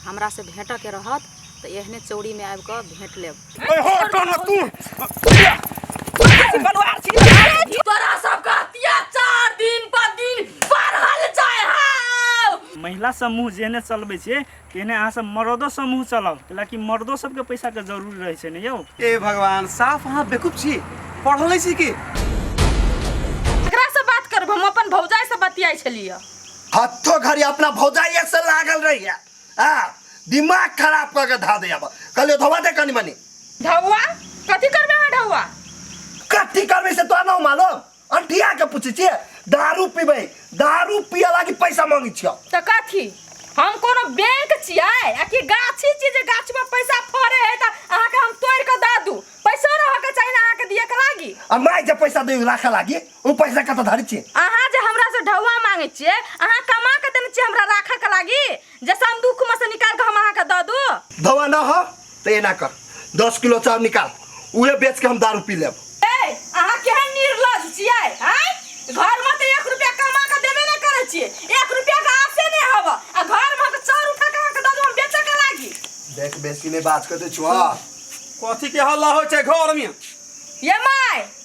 हमरा से भेंट के रहत तो एहने चौड़ी में आबि के भेंट लेब ए हो टोना तू बनवार छी तोरा सबका अत्याचार दिन पर दिन बढ़ल जाय हाव महिला समूह जेहने चलबै छै तेहने अहाँ सब मर्दो समूह चलाउ कैलाकि मर्दो सबके पैसा के जरूरी रहै छै ने यौ ए भगवान साफ अहाँ बेकूफ छी पढ़ल छी की एकरा से बात करब हम अपन भौजाई से बतियाई छलिए हत्थो घड़ी अपना भौजाइए से लागल रही है हाँ दिमाग खराब करके धा दे अब कल धोवा दे कनी मनी धौआ कथी करबे है धौआ कथी करबे से तो ना मालूम अंठिया के पूछे छिए दारू पीबे दारू पिया लागी पैसा मांगी छियो तो कथी हम कोनो बैंक छिए आ कि गाछी छी जे गाछ में पैसा फरे है त अहा के हम तोड़ के द दू पैसा रह के चाहिए अहा के दिए के लागी आ माय जे पैसा दे राखे लागी उ पैसा कत धरि छे अहाँ जे हमरा से ढौआ मांगे छिए अहाँ कमा के देने छिए हमरा राखे के लागी जैसे हम दुख में से निकाल के हम अहाँ के द दू धवा ना हो तो एना कर दस किलो चाउर निकाल उहे बेच के हम दारू पी लेब ए अहाँ केहन निर्लज छिए हैं घर में तो एक रुपया कमा के देबे ना करे छिए एक रुपया के आसे नहीं हब आ घर में के चाउर उठा के अहाँ के द दू हम बेचे के लागी देख बेसी में बात करते छुआ कथी के हल्ला होइ छै घर में ये माय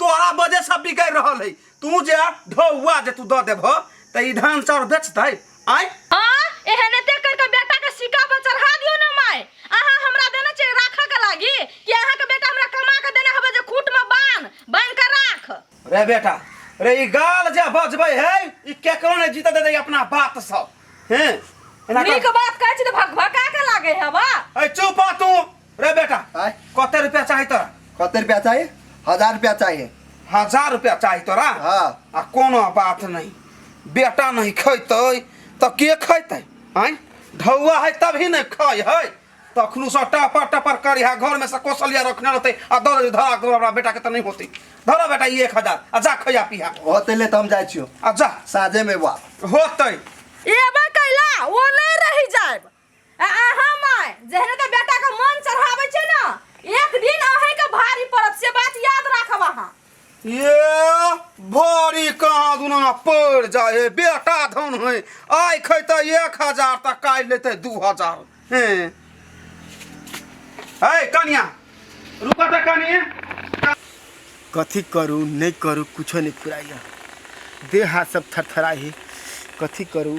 तोहरा वजह से बिगड़ रहल है तू जे ढौआ जे तू द देब त ई धान चाउर बेचतै आय आ एहने ते करके बेटा के सिक्का पर चढ़ा दियो ना माय अहाँ हमरा देने छै राखऽ के लागी कि अहाँ के बेटा हमरा कमा के देने हबे जे खूट में बांध बांध के राख रे बेटा रे ई गाल जे बजबै है ई केकरो ने जीत देतै अपना बात सब हैं एना नीक कर बात कहै छी तऽ भक भका के लागे है बा ऐ चुप आ तू रे बेटा आय कते रुपया चाही तोरा कते रुपया चाही हजार रुपया चाही हजार रुपया चाही तोरा हाँ आ कोनो बात नहीं बेटा नहीं खैतै तऽ के खैतै आँय ढौआ है तभी ने खाय है तखनू से टपर टपर कर यहाँ घर में से कौशल्या रखने रहते आ दौड़ धरा के हमरा बेटा के तऽ नहीं होते धरा बेटा ई एक हजार आ जा खैया पिया होते ले तो हम जाए छियो आ जा साँझे में बाप होतै एबे कैला ओ नहीं रही जाएब आ अहाँ माय जहने तऽ बेटा के मन चढ़ाबै छै ना एक दिन अहे के भारी पड़त से बात याद राखब अहाँ ये भारी कहाँ दुना पड़ जाए हे बेटा धन है आइ खैते एक हजार तऽ काल्हि लेते दू हजार हैं है कनिया रुका तऽ कनिया कथी करू नहीं करू कुछो नहीं फुराइया देह हाथ सब थरथराई है कथी करू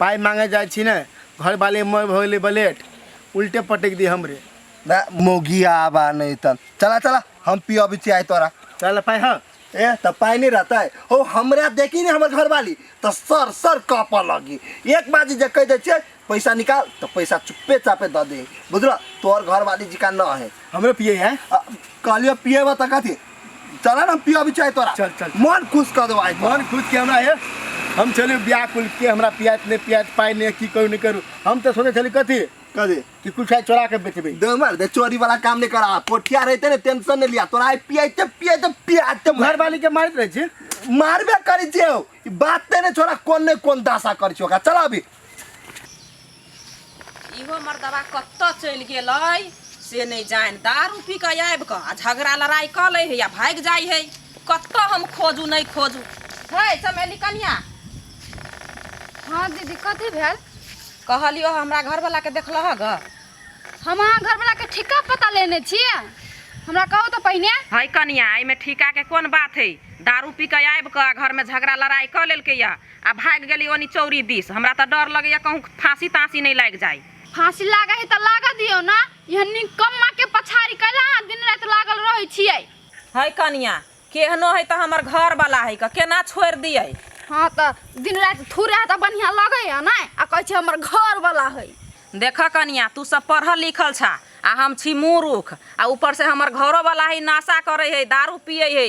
पाइ माँगे जाइ छी ने घरवाली मर भऽ गेलै बलेट उल्टे पटकि दी हमरे बे मौगी आबा नहि तन चला चला हम पियबै छी आइ तोरा चल पाइ हँ ए तऽ पाइ नहि रहतै हो हमरा देखी ने हमर घरवाली तऽ सर सर काँपऽ लगी एक बाजी जे कहि दै छियै पैसा निकाल तऽ पैसा चुप्पे चापे दऽ दे बुझलऽ तोहर घरवाली जिका न है हमरे पिए है आ, कहलियो पिएबऽ तऽ कथी चला ना पिया बिचाय तोरा चल, चल। मन खुश कर दो आज मन खुश के हमरा है हम चलू व्याकुल के हमरा पियात नहीं पियात पाई नहीं की करू नहीं करू हम तो सोचे चली कथी कर दे कि कुछ है चोरा के बेचबे दे मार दे चोरी वाला काम नहीं करा पोठिया रहते ने टेंशन नहीं लिया तोरा पिया ते पिया ते पिया ते घर वाली के मारत रहे छी मारबे करी जे बात ते ने छोरा कौन ने कौन दासा कर छोका चला अभी इहो मर्दबा कतऽ चलि गेलै से नहि जानि दारू पी कऽ आबि कऽ आ झगड़ा लड़ाइ कऽ लै है आ भागि जाइ है कतऽ हम खोजू नहि खोजू है चमेली कनिया हाँ दीदी कथी भेल कहलियो हमरा घरवला के देखलह ग हम अहाँ घरवला के ठीका पता लेने छियै हमरा कहू तऽ पहिने है कनिया एहिमे ठीका के कोन बात है दारू पी कऽ आबि कऽ आ घर में झगड़ा लड़ाइ कऽ लेलकै या आ भागि गेली ओनी चौरी दिस हमरा तऽ डर लगैया कहूँ फांसी तांसी नहीं लागि जाय फांसी लागे है तऽ लाग दियो ना यह निकम्मा के पछाड़ी कैला अहाँ दिन रात लागल रहे छियै है कनिया केहनो है तऽ हमर घर वाला है क केना छोड़ दिए हाँ तऽ दिन रात थूरे है तऽ बढ़िया लगे है ना आ कहे छै हमर घर वाला है देख कनिया तू सब पढ़ल लिखल छा आ हम छी मूर्ख आ ऊपर से हमर घरो वाला है नशा करे है दारू पिए है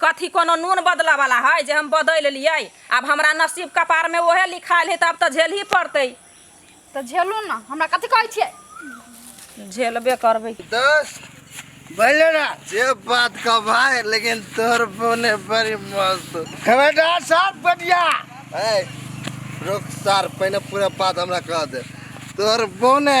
कथी कोनो नून बदलऽ बला हइ जे हम बदलि लिअइ? आब हमरा नसीब, कपार, में ओहे लिखायल हइ, तऽ आब तऽ झेलहीं पड़तइ। तऽ झेलू ने, हमरा कथी कहै छियै? झेलबे करबइ। दोस्त, बोलऽ ना। जे बात कहऽ भाय, लेकिन तोहर बोने बड़ी मस्त हो। खबरदार सार पटिया! अय, रोक सार, पहिने पूरा बात हमरा कहऽ दे। तोहर बोने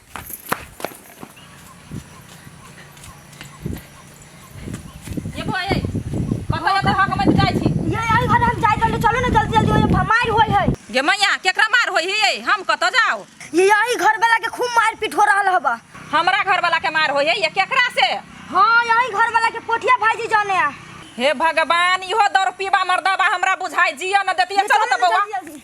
ये भाई ये कत ये तो हक मत जाई छी ये आई घर हम जाय चल चलो ना जल्दी जल्दी ओए भमार होय है गे मैया केकरा मार होई हियै हम कत जाओ ये आई घर वाला के खूब मार पीट हो रहल हबा हमरा घर वाला के मार होई ये केकरा से हां यही घर वाला के पोठिया भाईजी जाने आ हे भगवान इहो दौर पीबा मर्दबा हमरा बुझाई जिया न देतिए चलो त बौआ जल्दी, जल्दी।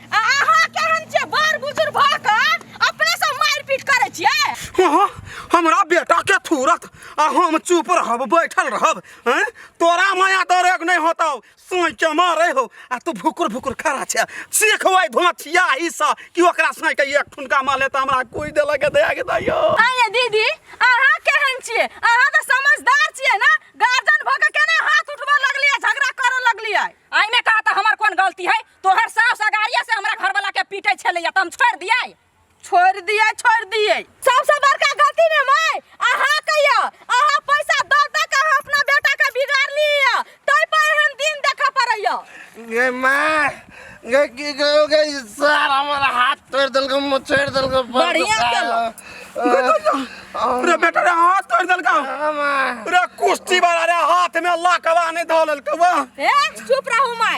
आ अहाँ केहन छियै बड़ बुजुर्ग भऽ कऽ अपने सब मारपीट करै छियै अहाँ हमरा बेटा के थूरत आ हम चुप रहब बैठल रहब हैं? तोरा माया दरेग नहीं होता सोई के मारे हो आ तू भुकुर भुकुर खड़ा छे सीखबै धोछिया ई सा कि ओकरा सोई के एक ठुनका माले त हमरा कोई देला के दया के दयो आइए दीदी अहाँ केहन छियै अहाँ तऽ समझदार छियै ने गार्जियन भऽ कऽ केना हाथ उठबऽ लगलियै झगड़ा करऽ लगलियै आइमे कहा तऽ हमर कोन गलती है तोहर सास अगाड़िया से हमरा घर वाला के पीटे छले त हम छोड़ दिए छोड़ दिए छोड़ दिए सबसे बड़का गलती ने मैं अहा कहियो अहा पैसा द द के हम अपना बेटा के बिगाड़ लिया तई पर हम दिन देखा परैया गे माँ गे की गयो गे सार हमारा हाथ तोड़ दल को मुँह छोड़ दल को बढ़िया चलो। रे बेटा रे हाथ तोड़ दल का माँ रे कुश्ती वाला रे हाथ में लकवा नहीं धोलल कवा ए चुप रहू मैं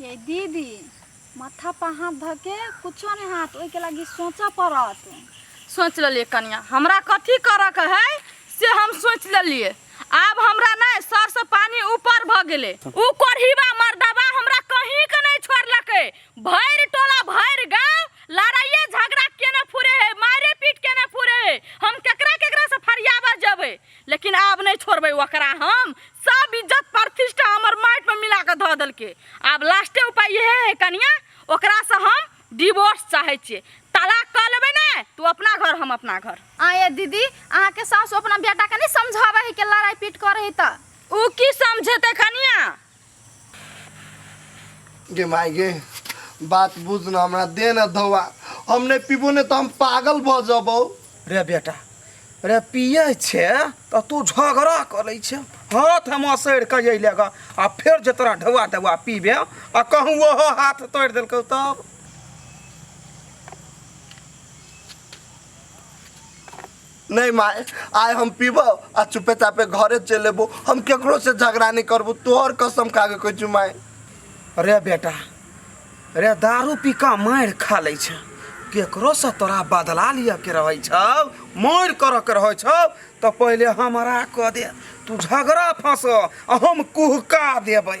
ये दीदी माथा पर हाथ धऽ के कुछो नहि हाथ ओहिके लागि सोचऽ पड़त सोच लेलिए कनिया हमरा कथी करऽ के है से हम सोच लेलिए आब हमरा नहीं सर से पानी ऊपर भ गेले ऊ कोढ़ीबा मर्दबा हमरा कहीं के नहीं छोड़लके भैर टोला भैर गांव लड़ाइए झगड़ा केने फुरे है मारे पीट केने फुरे है हम केकरा केकरा से फरियाबा जबे लेकिन आब नहीं छोड़बे ओकरा हम सब इज्जत प्रतिष्ठा हमर माटि में मिला के धऽ देलकै आब लास्टे उपाय इहे है कनिया ओकरा से हम डिवोर्स चाहे छियै तलाक कऽ लेबै ने तू अपना घर हम अपना घर आ ये दीदी अहाँ के सासु अपना बेटा के नहीं समझावे है के लड़ाई पीट करे है तऽ ऊ की समझेतै कनिया गे माय गे बात बुझ न हमरा दे न धोवा हम नहीं पीबो नहीं तो हम पागल भ जबो रे बेटा रे पिए छे तऽ तू झगड़ा करै छे हाथ हम असैर कऽ अयले ग आ फेर जे तोरा ढौआ दवा पीबे आ कहूँ ओहो हाथ तोड़ि देलकौ तब नहीं माए आय हम पीबो आ चुपे चापे घरे चल लेबो हम केकरो से झगड़ा नहीं करबो तोहर कसम खा के कोई चुमाए रे बेटा रे दारू पी का मारि खा लै छ केकरो से तोरा बदला लिअ के रहै छौ मारि करऽ के रहै छौ तऽ पहिले हमरा कऽ दे तू झगड़ा फँस आ हम कुहका देबै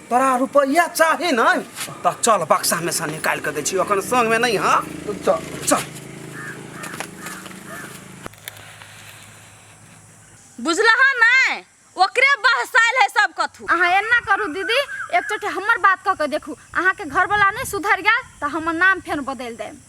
तोरा रुपया चाही न त चल बक्सा में से निकाल के दे छी अखन संग में नहीं हां चल चल बुझला है ना ओकरे बहसाइल है सब कथू अहाँ एना करू दीदी एक चोटे हमर बात कऽ के देखू अहाँके घरवला नहि सुधरि गेल तऽ हमर नाम फेर बदलि देब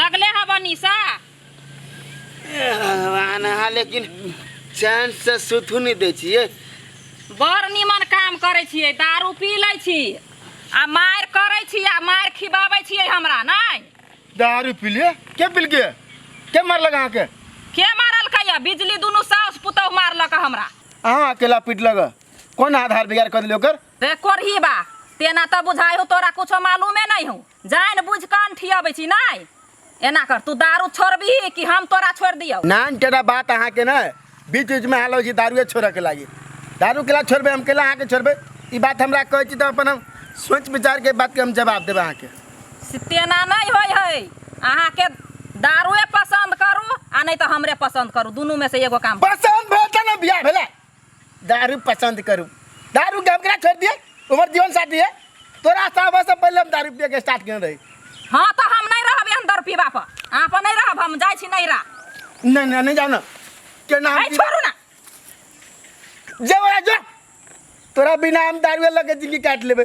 लगले हब निशा ए भगवान अहाँ लेकिन चैन से सुतू नहीं दै छियै बड़ निमन काम करै छियै दारू पी लै छी आ मारि करै छी आ मारि खिबाबै छियै हमरा नहि दारू पी लिए के पी लिए के मारलक अहाँके के मारलकै यऽ बिजली दुनू साउस पुतहु मारलक हमरा अहाँ अकेला पीटलक कोन आधार बिगाड़ कऽ देलियै ओकर रे कोरही बा तेना तऽ बुझाइ हो तोरा कुछो मालूमे नहि हो जानि बुझि कान ठियाबै छी नहि एना कर तू दारू छोड़बिही कि हम तोरा छोड़ि दियौ नान केना बात अहाँके ने बीच बीचमे हाल होइ छै दारूए छोड़यके लागि दारू केला छोड़बै हम केला अहाँके छोड़बै ई बात हमरा कहै छी तऽ अपन हम सोच विचारके बातके हम जवाब देबै अहाँके से तेना नहि होइ है अहाँके दारूए पसन्द करू आ नहि तऽ हमरे पसन्द करू दुनूमे से एगो काम पसन्द भेल तऽ ने बियाह भेलै दारू पसंद करू दारू के हम केना छोड़ दिए उमर जीवन साथी है तोरा साहब से पहले हम दारू पिए के स्टार्ट केने रही हाँ तो हम नहीं रहब एहन दर पीबा पर अहाँ पर नहीं रहब हम जाइ छी नहीं रह नहीं नहीं नहीं जाओ ना के नाम आई छोड़ू ना जे बोला जो तोरा बिना हम दारू लगे जिंदगी काट लेबे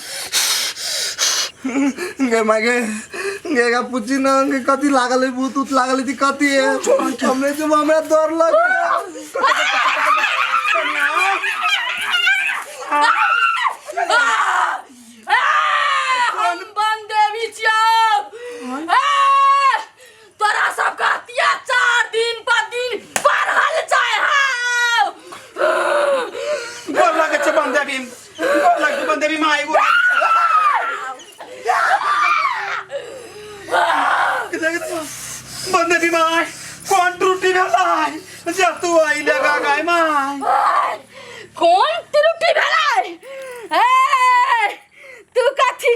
गे माय गे गे का पूछी ना गे कथी लागल है भूत उत लागल है ती कथी है हमरे जब हमरा डर लग तोरा सबके अत्याचार दिन पर दिन बढ़ल जाय है गोर लगे छै बंदे भी गोर लगे छै बंदे भी माय गोर बंदे भी माय कौन त्रुटि भेला है जा तू आई लगा गाय माय कोन त्रुटि भेलै ए तू कथी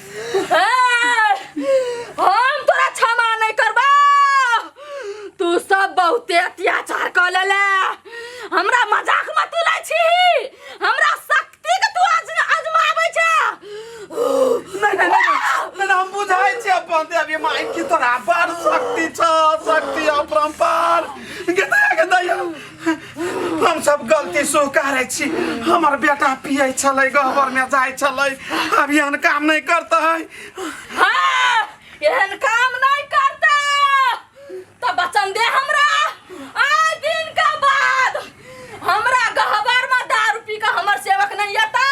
ए, हम तोरा क्षमा नहीं करबा तू सब बहुते अत्याचार कर लेले हमरा मजाक मत उड़ै छी हमरा शक्ति के तू आज आजमाबै छ नहीं नहीं नहीं नहीं हम बुझाई छी अपन ते अभी माई की तोरा बड़ शक्ति छ शक्ति अपरंपार के दया के दया हम सब गलती सो करे छी हमर बेटा पिए छले गहबर में जाय छले अब यहन काम नहीं करता है हाँ, एहन काम नहीं करता तो बचन दे हमरा आए दिन का बाद हमरा गहबर में दारू पी के हमर सेवक नहीं आता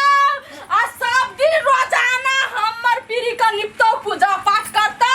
आ सब दिन रोजाना हमर पीरी का निपटो पूजा पाठ करता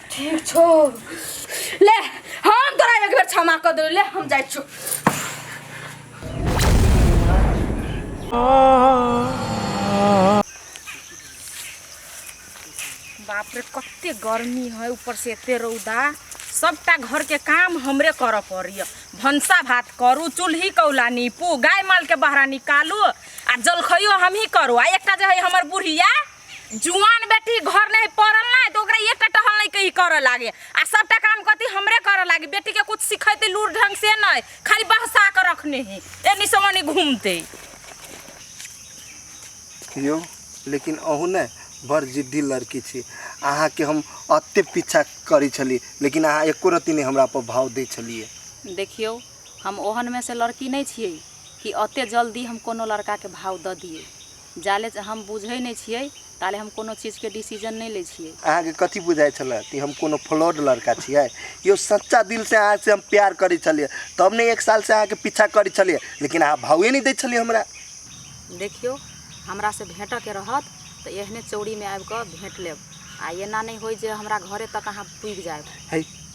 ठीक छो ले हम तोरा एक बेर क्षमा कर दे ले हम जाय छो बाप रे कते गर्मी है ऊपर से एते रौदा सबटा घर के काम हमरे कर पड़िय भनसा भात करू चूल्ही कौला नीपू गाय माल के बहरा निकालू आ जलखइयो हमही करू आ एकटा जे है हमर बुढ़िया जुआन बेटी घर नहीं पड़ल ना तो ओकरा एक टहल नहीं कहीं कर लागे आ सबटा काम कथी हमरे कर लागे बेटी के कुछ सिखैते लूर ढंग से नहीं खाली बहसा के रखने ही एनी समनी घूमते यो लेकिन अहू ने बड़ जिद्दी लड़की छी अहाँके हम अते पीछा करै छली लेकिन अहाँ एको रत्ती नहि हमरा पर भाव दै छलियै देखियौ हम ओहनमे से लड़की नहि छियै कि ओते जल्दी हम कोनो लड़काके भाव दऽ दियै जाले हम बुझै नै छियै ताले हम कोनो चीज के डिसीजन नै लै छियै। अहाँ के कथी बुझाय छले कि हम कोनो फ्लॉड लड़का छिये? यो सच्चा दिल से अहाँ से हम प्यार करै छलिये तब ने एक साल से अहाँ के पीछा करै छलिये लेकिन अहाँ भावे नै दै छलिये हमरा। देखियो हमरा से भेंटऽ के रहत त एहने चौड़ी में आबि क भेंट लेब आ एना नै होय जे हमरा घरे तक अहाँ पुगि जायब।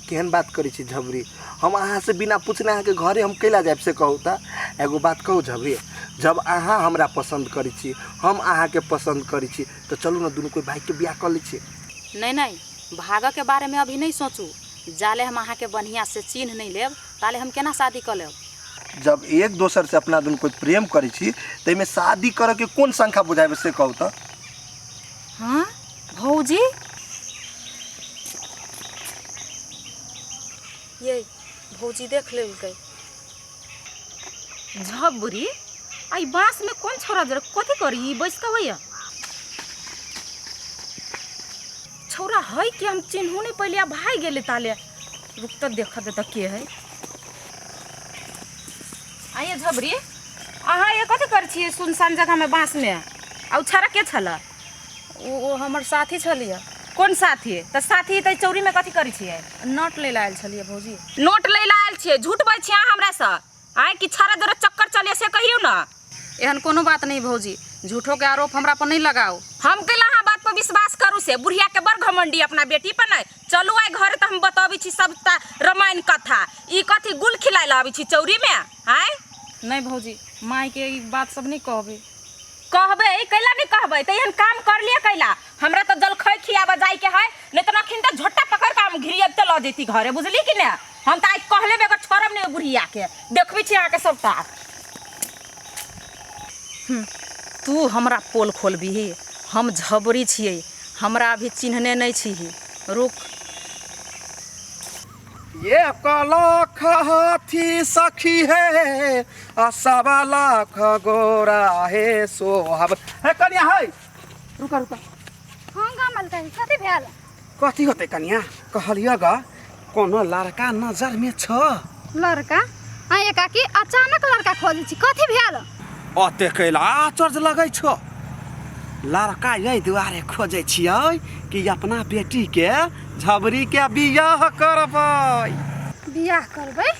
केहन बात करै छी झबरी हम अहाँसँ बिना पूछने अहाँके घरे हम कैला जायब से कहू तऽ एगो बात कहू झबरी जब अहाँ हमरा पसन्द करै छी हम अहाँके पसन्द करै छी तऽ चलू ने दुनू कोइ भायके बियाह कऽ लै छी नहीं नहीं भागऽ के बारे में अभी नहीं सोचू जाले हम अहाँ के बढ़िया से चिन्ह नहीं लेब ताले हम केना शादी कर लेब जब एक दोसर से अपना दुनू कोइ प्रेम करै छी ताहिमे शादी करऽके कोन शंका बुझाबै से कहू तऽ हाँ भौजी ये भौजी देख लेलकै झब बुढ़ी आई बांस में कौन छोरा जरा कथी करी ई बैस के होइया छोरा है कि हम चिन्हू नहीं पहले अब भाई गेले ताले रुक तो देखा देता के है आइए झबरी अहाँ ये कथी कर छिए सुनसान जगह में बांस में आ उ छारा के छला ओ ओ हमर साथी छलियै कोन साथी तऽ साथी तऽ चौरीमे कथी करै छियै नट लै लए आयल छलियै भौजी नोट लै लए आयल छियै झूठ बजै छियै अहाँ हमरासँ आँय कि छाड़ा दौड़े चक्कर चलिए से कहियौ ने एहन कोनो बात नहि भौजी झूठोके आरोप हमरा पर नहि लगाउ हम कैला अहाँ बात पर विश्वास करू से बुढ़िया के बड़ घमंडी अपना बेटी पर नहि चलू आइ घरे तऽ हम बतबै छी सबटा रामायण कथा ई कथी गुल खिलाय लए आबै छी चौरी मे आय नहि भौजी मायके ई बात सब नहि कहबै कहबै कैला नहि कहबै तऽ एहन काम कर लिए कैला हमरा तऽ जलखै खियाबऽ जाइके है नहि तऽ नखिन तऽ झोटा पकड़ कऽ हम घिरियब तऽ लऽ जैती घरे बुझली कि ने हम तऽ आइ कहले बेगर छोड़ब नहि बुढ़ियाके देखबै छी अहाँके सब तार हम्म, तू हमरा पोल खोलबिही हम झबरी छियै हमरा अभी चिन्हने नहि छिही रुक ये कलख हाथी सखी हे आ सब लाख गोरा हे सोहब हे कनिया है रुका रुका हम का मलका है कथी भेल कथी होते कनिया कहलियो ग कोनो लड़का नजर में छ लड़का आ एकाकी अचानक लड़का खोजै छी कथी भेल अते कैला आचर्ज लगै छो लड़का यही दुआरे खोजे छियै कि अपना बेटी के झबरी के बियाह करबै बियाह करबै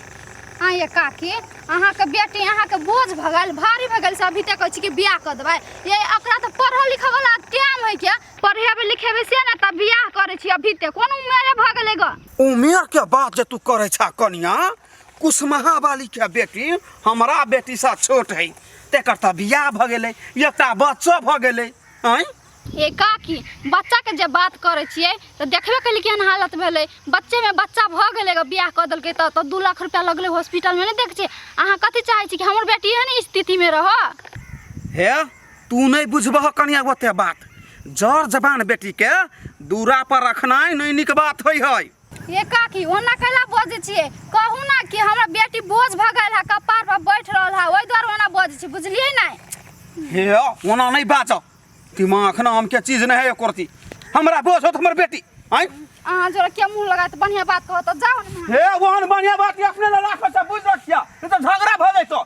हाँ ये काकी अहाँ के बेटी अहाँ के बोझ भगल भारी भगल से अभी तक अछि कि बियाह कर देबै ये एकरा तो पढ़ल लिखल वाला टाइम है क्या पढ़ेबे लिखेबे से ना तब बियाह करे छी अभी तक कोन उम्र भगले ग उमेर के बात जे तू करे छा कनिया कुसमहा वाली के बेटी हमरा बेटी सा छोट है तेकर तऽ बियाह भऽ गेलै एकटा बच्चो भऽ गेलै आँय ए काकी बच्चा के जे बात करे छिए तो देखबे कली केहन हालत भेले बच्चे में बच्चा भ गेले ग बियाह क देलके त तो दू लाख रुपया लगले हॉस्पिटल में नहीं देख छिए अहाँ कथी चाहे छी कि हमर बेटी एहन स्थिति में रह हे तू नहीं बुझबह कनिया ओते बात जर जबान बेटी के दूरा पर रखनाइ नहीं निक बात होइ है ये काकी ओना कैला बजै छियै कहू ना कि हमरा बेटी बोझ भऽ गेल है कपार पर बैठ रहल है ओहि दुआरे ओना बजै छी बुझलियै ना हे ओना नहीं बाजऽ दिमाग ना हम के चीज नहीं है करती हमरा बोझ होत हमर बेटी आय अहाँ जोरा के मुंह लगा तऽ बढ़िया बात कहत जाओ ना हे ओहन बढ़िया बात अपने ला राखऽ बुझ रखिया नहीं तो झगड़ा भऽ जैतो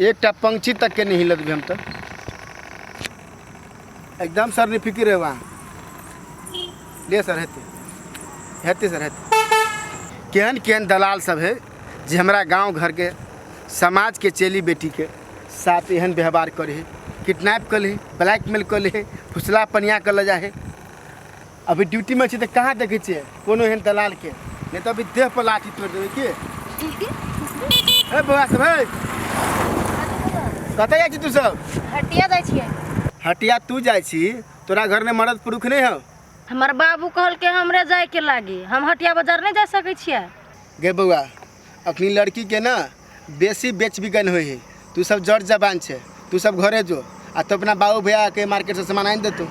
एकटा पंक्षी तक के नहि हिलत भी हम तक एकदम सर नहि फिकिर है वहाँ ले सर हेतै हेतै सर हेतै केहन केहन दलाल सब है जे हमरा गाँव घर के समाज के चेली बेटी के साथ एहन व्यवहार करे है किडनैप कर ले ब्लैकमेल कर ले फुसला पनिया कर ले जा है अभी ड्यूटी में छी तो कहाँ देखे छे कोनो एहन दलाल के नहीं तो अभी देह पर लाठी तोड़ देवे की ए बौआ सब है कतऽ जाइ छी तू सब हटिया जाइ छियै हटिया तू जाइ छी तोरा घर में मर्द पुरुष नहीं हो हमर बाबू कहलके हमरे जायके लागी हम हटिया बाजार नहि जा सकै छियै गे बौआ अपनी लड़की के ना बेसी बेच बिकन होइ है तू सब जड़ जबान छे तू सब घरे जो आ तो अपना बाबू भैया के मार्केट से सामान आनि देतू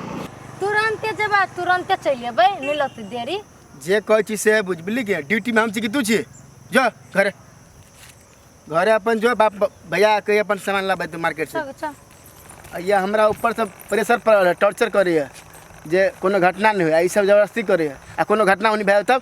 तुरंते जेबा तुरंते चलि अबै नहि लती देरी जे कहै छी से बुझ बुझली के ड्यूटी में हम छी कि तू छी जो घरे घरे अपन जो बाप भैया के अपन सामान लाबै तू मार्केट से चल चल आ ये हमरा ऊपर से प्रेशर पड़ल है टॉर्चर करे है जे कोनो घटना नहीं हुआ ई सब जबरदस्ती करे है आ कोनो घटना होनी भाई तब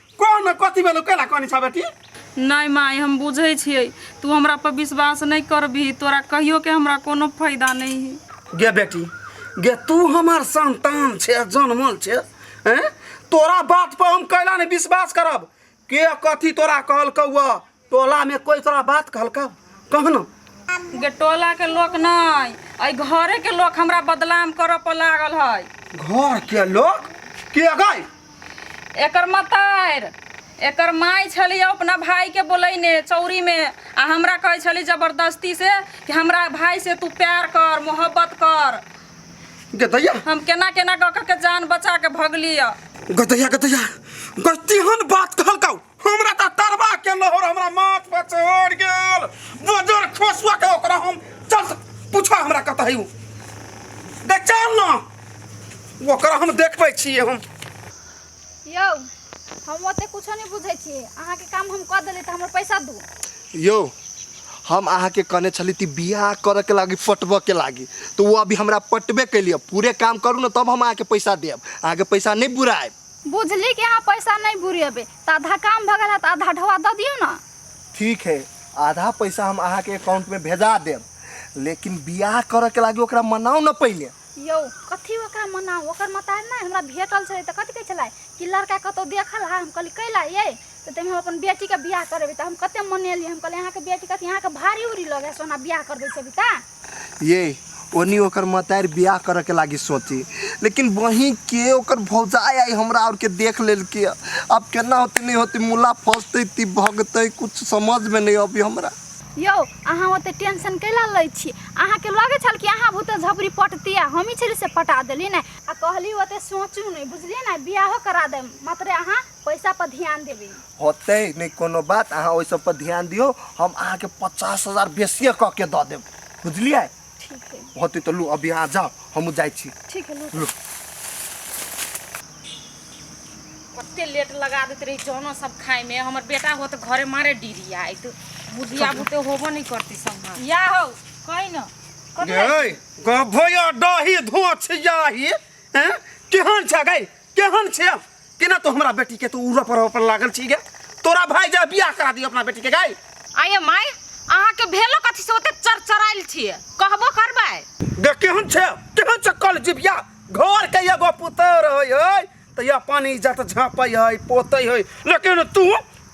कौन में कथी भेलो केला कहनी छ बेटी नहीं माई हम बुझे छिए तू हमरा पर विश्वास नहीं करबी तोरा कहियो के हमरा कोनो फायदा नहीं है गे बेटी गे तू हमार संतान छे जन्मल छे हैं तोरा बात पर हम कैला ने विश्वास करब के कथी तोरा कहल कौआ टोला में कोई तोरा बात कहलका कहना गे टोला के लोग नहीं अई घरे के लोग हमरा बदनाम करऽ पर लागल है घर के लोग के गई एकर मतार एकर माई छली अपना भाई के बोलैने चौरी में आ हमरा कहै छली जबरदस्ती से कि हमरा भाई से तू प्यार कर मोहब्बत कर गे दैया हम केना केना कऽ कऽ के जान बचा के भगली गदैया गदैया गतिहन बात कहलका हमरा तऽ तरबा के लहर हमरा माथ पर चढ़ गेल बजर खोसुआ के ओकरा हम चल पूछो हमरा कतऽ है उ दे चल ना ओकरा हम देखबै छियै हम यौ हम ओते कुछो नहीं बुझे छी अहाँ के काम हम कर देली त हमर पैसा दू यौ हम अहाँके कहने छली ती बियाह करऽ के लागी पटबऽ के लागी तो वो अभी हमरा पटबे कैलिए पूरे काम करू ने तब हम अहाँके पैसा देब अहाँके पैसा नहीं बुराएब बुझली कि अहाँ पैसा नहीं बुरेबे तो आधा काम भगल है तो आधा ढोआ दे दियो ना ठीक है आधा पैसा हम अहाँ के अकाउंट में भेजा देब लेकिन बियाह करे के लागी ओकरा मनाओ न पहले यो कथी ओकरा मना ओकर मतार ना हमरा भेटल छलै तऽ कथी कहै छलै कि लड़का कतौ देखल हा हम कहली कैला ये तऽ ताहिमे हम अपन बेटीके बियाह करबै तऽ हम कते मनेली हम कहली अहाँके बेटी कथी अहाँके भारी उरी लगे सोना बियाह करबै छै अभी तऽ ये ओनी ओकर मतार बियाह करे के लागी सोची लेकिन वहीं के ओकर भौजाई आई हमरा और के देख लेल के अब केना होते नहीं होते मुला फंसते ती भगते कुछ समझ में नहीं अभी हमरा यौ अहाँ ओते टेंशन कैला लै छी अहाँके लगे छल कि अहाँ भूत झपड़ी पटती आ हमही छली से पटा देली ने आ कहली ओते सोचू नहि बुझली ने बियाहो करा देम मात्र अहाँ पैसा पर ध्यान देबे होते नहीं कोनो बात अहाँ ओहि सब पर ध्यान दियो हम अहाँ के पचास हजार बेसिए कऽ के दऽ देब बुझलियै ठीक है होते तो लू अभी अहाँ जाओ हमहूँ जाइ छी ठीक है लो। कते लेट लगा देते रही जौनो सब खाए में हमर बेटा हो तो घरे मारे डीरी आई तो बुझिया बुते होबो नहीं करती सब या हो कहीं ना कथी गै गभया डही धोछ जाही हैं केहन छ गै केहन छे केना तो हमरा बेटी के तो उड़ा पर पर लागल छी गे तोरा भाई जा बियाह करा दी अपना बेटी के गाय आये माय अहाँ के भेलो कथी से ओते चरचराइल छिए कहबो करबै गे केहन छे केहन छे कल जिबिया घर के एगो पुतर होय होय तो या पानी इज्जत झापै है पोतै है लेकिन तू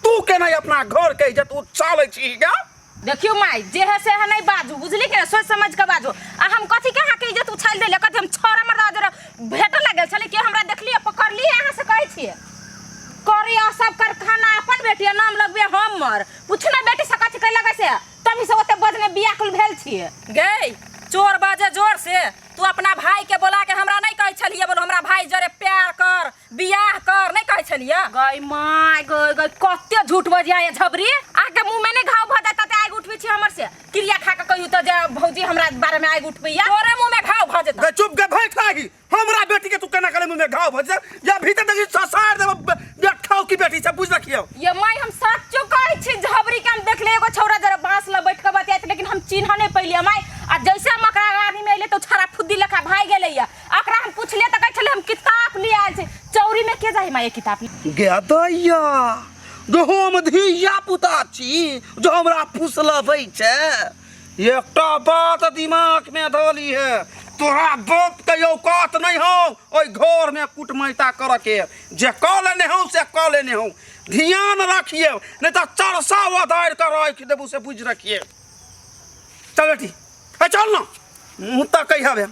तू केना अपना घर के इज्जत उछालै छी गे देखियो माई जे है से है नहीं बाजू बुझली के सोच समझ के बाजू आ हम कथी के हां के इज्जत उछाल देले कथी हम छोरा मरदा जरा भेट लागल छले के हमरा देखलिए पकड़ली अहां से कहै छिए करी आ सब कर खाना अपन बेटी नाम लगबे हमर पूछ ना बेटी से कथी के लगे से तमी से ओते बदने बियाकुल भेल छिए गई चोर बाजे जोर से तू अपना भाई के बोला के हमरा नहीं कहै छलिए बोल हमरा भाई जरे प्यार कर बियाह कर नहीं कहे छलिए गई माय गई गई कते झूठ बजिया ये झबरी आके मुंह में ने घाव भ जाता ते आग उठबे छी हमर से क्रिया खा के कहियो त जे भौजी हमरा बारे में आग उठबैया तोरे मुंह में घाव भ जेता गे चुप गे भैंस लागी हमरा बेटी के तू केना करे मुंह में घाव भर जा या भीतर देखी ससार देब बे- बेठाओ की बेटी से बुझ रखियो ये माय हम सच्चो कहै छी झबरी के हम देखले एगो छौरा जरा बांस ल बैठ के बतियात लेकिन हम चिन्ह नहीं पइलिए माय आ जैसे हम ओकरा आदमी में अइले तो छारा फुद्दी लेखा भाग गेलैया एकरा हम पूछलिए त कहै छले हम किताब ले आयल छी चौरी में के जाई माये किताब ले गेदैया जो हम धिया पुता छी जो हमरा फुसलबै छै एकटा बात दिमाग में धोली है तोरा बाप के औकात नहीं हो ओहि घर में कुटमैता कर के जे क लेने हो से क लेने हो ध्यान रखिए नहीं तो चरसा वधार कर रख देबू से बुझ रखिए चल बेटी ए चल ना मुँह तकै हवे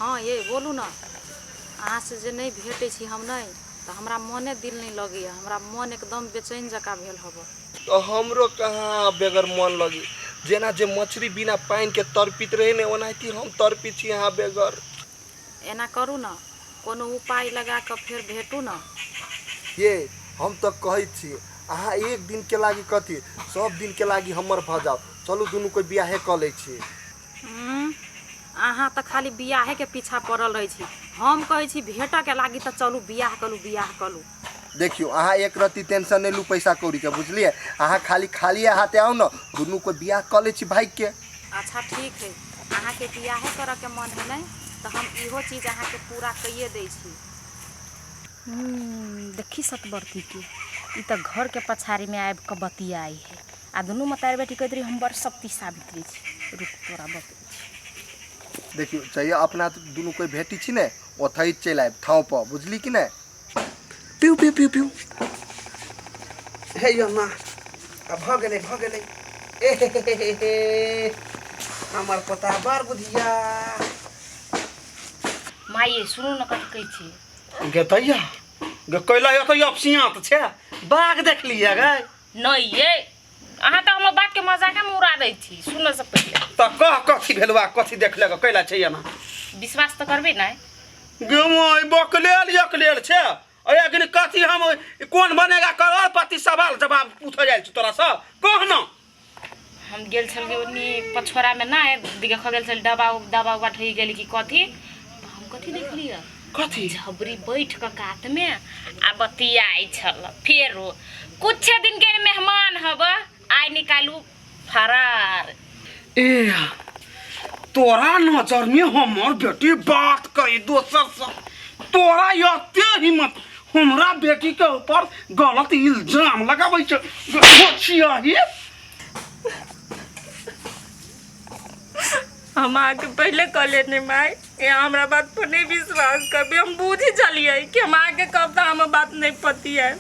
हँ ये बोलू ने अहाँ से जे नहि भेटै छी हम नहि तऽ हमरा मोने दिल नहि लगैए हमरा मोन एकदम बेचैन जकाँ भेल हब तो हमरो कहाँ बेगर मन लगी जेना जे मछली बिना पानि के तड़पित रहे ने ओनाहिते हम तड़पित छी यहाँ बेगर एना करू ने, कोनो उपाय लगा कऽ फेर भेटू ने। यै, हम तँ कहैत छी, अहाँ एक दिनकेँ लागि कथी, सभ दिनकेँ लागि हमर भऽ जाउ। चलू दुनू कोइ बिआहे कऽ लैत छी। हूँ, अहाँ तँ खाली बिआहेकेँ पीछा पड़ल रहैत छी। हम कहैत छी भेटऽकेँ लागि तँ चलू बिआह कऽ लू, बिआह कऽ लू। देखियो अहाँ एक रत्ती टेंशन नहीं लू पैसा कौड़ी के बुझलिए अहाँ खाली खाली हाथे आओ ना दुनू को बियाह कर ले छी भाई के अच्छा ठीक है अहाँ के बियाहे करे के मन है नहीं तो हम इहो चीज अहाँ के पूरा कइए दे छी हम्म, देखी सतबरती के ई तो घर के पछाड़ी में आबि के बतियाई है आ दुनू मतारी बेटी कहते रही हम बड़ शक्ति सावित्री छी रुक तोरा बतबै छी देखियो चाहिए अपना दुनू कोई भेटी छी ने ओथई चलि आयब ठाव पर बुझली कि नहीं पिउ पिउ पिउ पिउ हे यो माँ अब भऽ गेलै भऽ गेलै ए हे हे हे हे हे हमर पोता बड़ बुधिया माँ ये सुनू ने कथी कहै छियै गे दैया गे कैला यो कैला सियाँ तऽ छै बाघ देखलियै गे नहि ये अहाँ तऽ हमर बात के मजाक में उड़ा दै छी सुन से पहिले त कह कथी भेलवा कथी देखले क कैला छै एना विश्वास तो करबे ना गेमोय बकलेल यकलेल छै अय अग्नि कथी हम कोन बनेगा करोड़पति सवाल जवाब पूछ जाय छै तोरा से कह ना हम गेल छलियै ओनी पछोरा में ना दिखे खगेल छल डबा डबा उबा ठही गेली कि कथी तो हम कथी देखलियै कथी झबरी बैठ कऽ कात में आ बतियाई छल फेरो कुछ दिन के मेहमान हब आय निकालू फरार ए तोरा नजर में हमर बेटी बात कही दोसर से तोरा यते हिम्मत हमरा बेटी के ऊपर गलत इल्जाम लगाबै छ छिया ही हम अहाँके पहिले कह लेने माय ए हमरा बात पर नहीं विश्वास करबे हम बूझी चलिए कि हम आगे कब तो हम बात नहीं पती है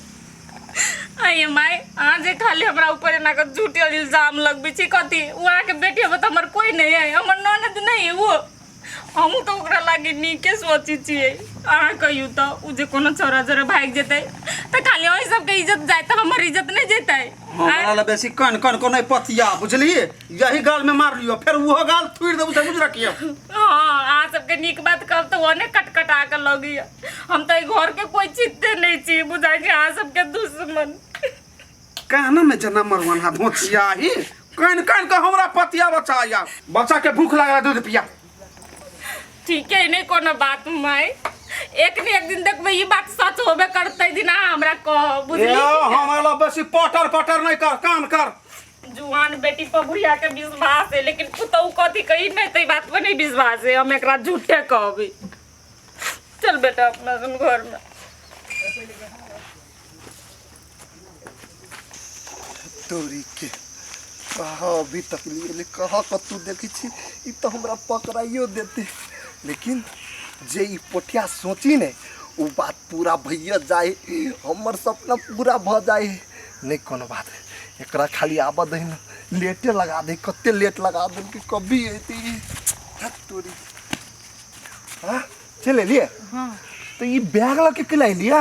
अये माय आज खाली हमरा ऊपर ना कर झूठे इल्जाम लगबी छी कथी उ आहाँ के बेटी अब तो हमर कोई नहीं है हमर ननद नहीं है वो हम तो ओकरा लागे नीके सोची छिए अहाँ कहियो तो उ जे कोनो छोरा जरे भाग जेते तो खाली ओही सबके इज्जत जाए तो हमर इज्जत नहीं जेते हमरा ला बेसी कन कन को नहीं पतिया बुझलिए यही गाल में मार लियो फिर वो गाल थूड़ देबू समझ रखियो हाँ अहाँ सबके नीक बात कहब तऽ ओने कटकटा के लगी हम तऽ एहि घर के कोई चित्ते नहीं छी बुझाइ छी अहाँ सबके दुश्मन कहना में जना मरवन हा धोचिया ही कान कान के हमरा पतिया बचा या बच्चा के भूख लगा दूध पिया ठीक है नहीं कोनो बात माय एक ने एक दिन देखबै ई बात सच होबे करतै दिन अहाँ हमरा कह ए बुझली हमरा ला बेसी पटर पटर नहीं कर कान कर जुआन बेटी पर बुढ़िया के विश्वास है लेकिन पुतहु कथी कही नहीं तो ई बात पर नहीं विश्वास है हम एकरा झूठे कहबी चल बेटा अपना सन घर में तोरी के कहा अभी तक लिए ले कहा कतू देखी छी ई तो हमरा पकड़ाइयो देते लेकिन जे ई पोटिया सोची ने उ बात पूरा भैया जाए हमर सपना पूरा भ जाए नहीं कोनो बात एक खाली आब दही ना लेटे लगा दे कत लेट लगा दे कि कभी अती तोरी हाँ चल लिए हाँ तो ये बैग लग के किला लिया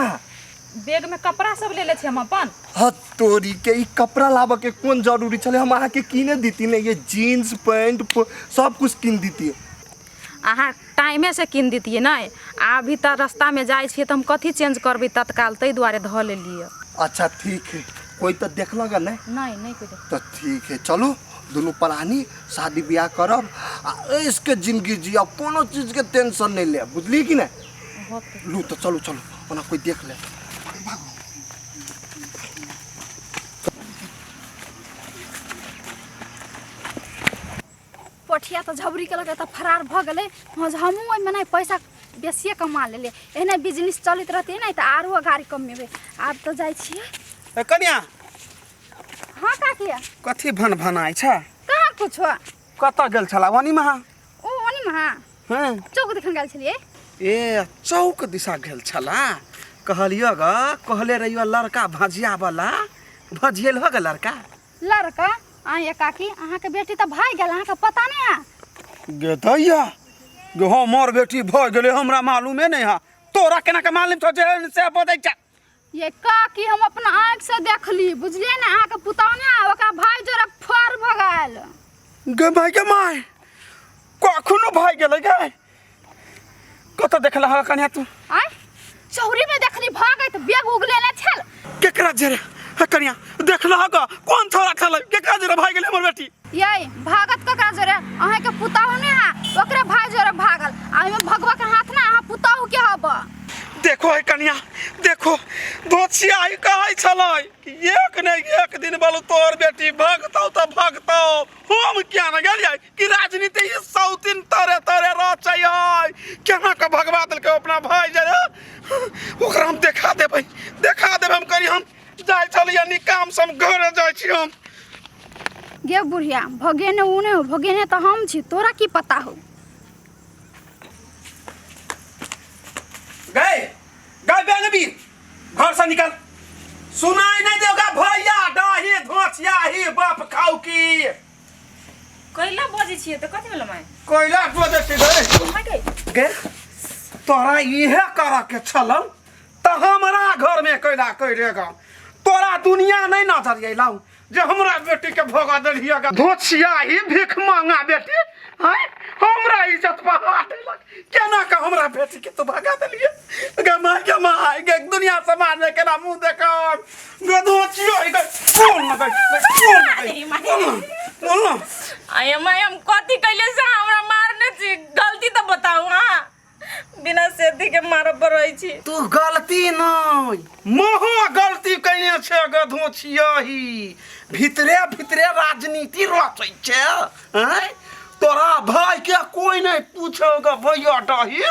बैग में कपड़ा सब ले ले हम अपन हाँ तोरी के ये कपड़ा लाबा के कौन जरूरी चले हम अहा के किने दीती ने ये जीन्स पैंट सब कुछ किन दीती अहाँ टाइमेसँ कीन दितियै ने आ अभी तऽ रस्तामे जाइ छियै तऽ हम कथी चेंज करबै तत्काल ताहि दुआरे धऽ लेलियै अच्छा ठीक है कोई तऽ देखलक है नहि नहि नहि कोई देख तऽ ठीक है चलू दुनू प्राणी शादी ब्याह करब आ ऐसके जिंदगी जियब कोनो चीजके टेंशन नहि लेब बुझलियै कि नहि होतै लू तऽ चलू चलू ओना कोई देख ले पठिया तऽ झबरी केलक तऽ फरार भऽ गेलै हँ जे हमहूँ ओहिमे नहि पैसा बेसिए कमा लेलियै एहने बिजनेस चलैत रहतै नहि तऽ आरो अगाड़ी कमेबै आब तऽ जाइ छियै ए कन्या हँ काकी कथी भन भनाइ छ कहाँ किछो कतऽ गेल छला वनी महा ओ ओनी महा हँ चौक देखन गेल छलियै ए चौक दिशा गेल छला कहलियो ग कहले रहियो लड़का भजिया वाला भजियल हो ग लड़का लड़का आइए काकी अहाँके बेटी तऽ भागि गेल अहाँके पता नहि है गे दैया गे हमर बेटी भऽ गेलै हमरा मालूमे नहि है तोरा केना के मालूम छौ जे एहन से बजै छै ये काकी हम अपना आँखि से देखली बुझलियै ने अहाँके पुतहु ने आ ओकरा भाई जोरक फर भऽ गेल गे माय गे माय कखनो भऽ गेलै गे कत देखला हा कन्या तू आय चौरी में देखली भागत बेग उगले ना छल केकरा जरे हा कन्या देखला हा का कौन थोड़ा खल केकरा जरे भाई गेले हमर बेटी यही भागत ककरा जोरे अहे के पुताहु ने हा ओकरे भाई जोरे भागल आ ओहिमे भगवा के हाथ ना अहाँ पुताहु के हब देखो है कन्या देखो दोछिया आई कहै छलै कि एक ने एक दिन बालू तोर बेटी भागतौ त भागतौ हम क्या न गेलियै कि राजनीति ई सौतिन तरे तरे रचै है केना के भगवा देलकै अपना भाय जे ओकरा हम देखा देबै देखा देबै हम करी हम जाइ छलियै निकाम से हम घरे जाइ छी हम गे बुढ़िया भगेने ऊ नहि हो भगेने तऽ हम छी तोरा की पता हो गए गए बेनबी घर से निकल सुनाई नहीं देगा भैया डाही धोछिया ही बाप खाऊ की कैला बजे छिए त कथि भेल माय कोइला बजे छी गए माय के गे तोरा इहे कर के छलौ त हमरा घर में कोइला कोइलेगा तोरा दुनिया नहीं नजर अयलौ जे हमरा बेटी के भगा देलिए गा धोछिया ही भीख मांगा बेटी हैं हमरा इज्जत पर हाथ लग केना के हमरा बेटी के तू भगा देलिए गे माय गे माय गे दुनिया समाज में केना मुंह देखा गे धोछिया ही गे कौन ना गे कौन ना गे बोल ना आय मैं हम कथी कैले से हमरा मारने छी गलती तो बताओ हां बिना सेती के मारब पर रहै छी तू गलती नै महा गलती कइने छे गधो छियही भितरे भितरे राजनीति रचै छे हैं तोरा भाई के कोई नहीं पूछो ग भैया डही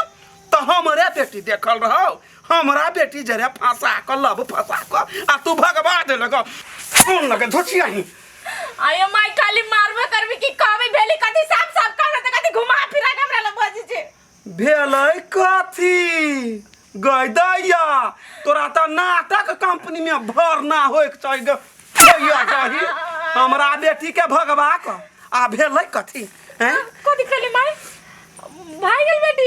तो हमरे बेटी देखल रहो हमरा बेटी जरे फंसा क लब फंसा क आ तू भगवा देलक फोन लगे धोचिया ही आयो माई खाली मारबे करबी कि कहबी भेली कथी साफ साफ कहना त कथी घुमा फिरा के हमरा लग बजी जे भेलै कथी गैदैया तोरा तऽ नाटक कंपनी में भरना होइक चाही ग- गैया कही हमरा बेटी के भगवा क आ भेलै कथी हैं कथी कहली माई भाई गेल बेटी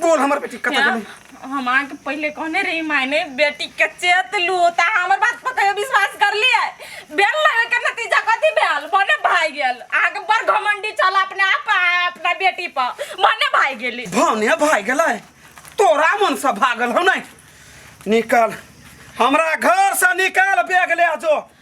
बोल हमर बेटी कतऽ क्या? गेलै हम अहाँके पहिले कहने रही मायने बेटी के चेत लू ता हमर बात पर कहियो विश्वास कर लिए बेल लगे के नतीजा कथी भेल मने भाई गेल अहाँके बड़ घमंडी चल अपने आप आ अपना बेटी पर मने भाई गेली भने भाइ गेलै तोरा मन से भागल हौ नै निकल हमरा घर से निकाल बैग ले जो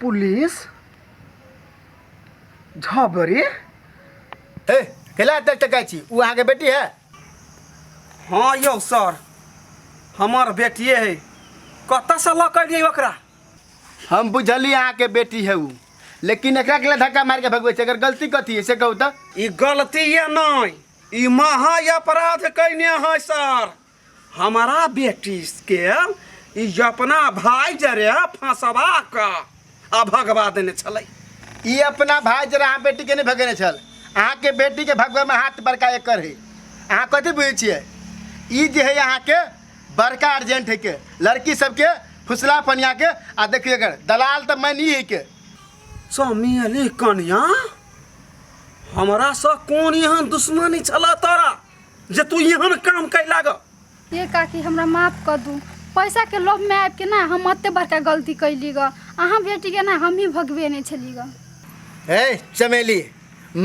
पुलिस झबरी हे कैला तक तक छी उ अहाँ के बेटी है हाँ यौ सर हमर बेटिए है कतऽसँ लऽ कऽ एलियै ओकरा हम बुझली अहाँ के बेटी है उ लेकिन एकरा के लिए धक्का मार के भगवे छै अगर गलती कथी है से कहू तो ई गलती ये नहि ई महा अपराध कैने है सर हमारा बेटी के ई अपना भाई जरे फंसवा के आ भगवा देने छलै ई अपना भाई जरा अहाँ बेटी के नहीं भगेने छल अहाँ के बेटी के भगवे में हाथ बड़का एकर है अहाँ कथी बुझे छियै ई जे है अहाँ के बड़का अर्जेंट है के लड़की सबके फुसला पनिया के आ देखिए एकर दलाल तो मैं नहीं है के चमेली कनिया हमरा से कोन एहन दुश्मनी छला तोरा जे तू एहन काम कैला ग ये काकी हमरा माफ कर दू पैसा के लोभ में आबि के ना हम अते बड़का गलती कैली ग अहाँ बेटी के ना हम ही भगवे नहीं छली ग हे चमेली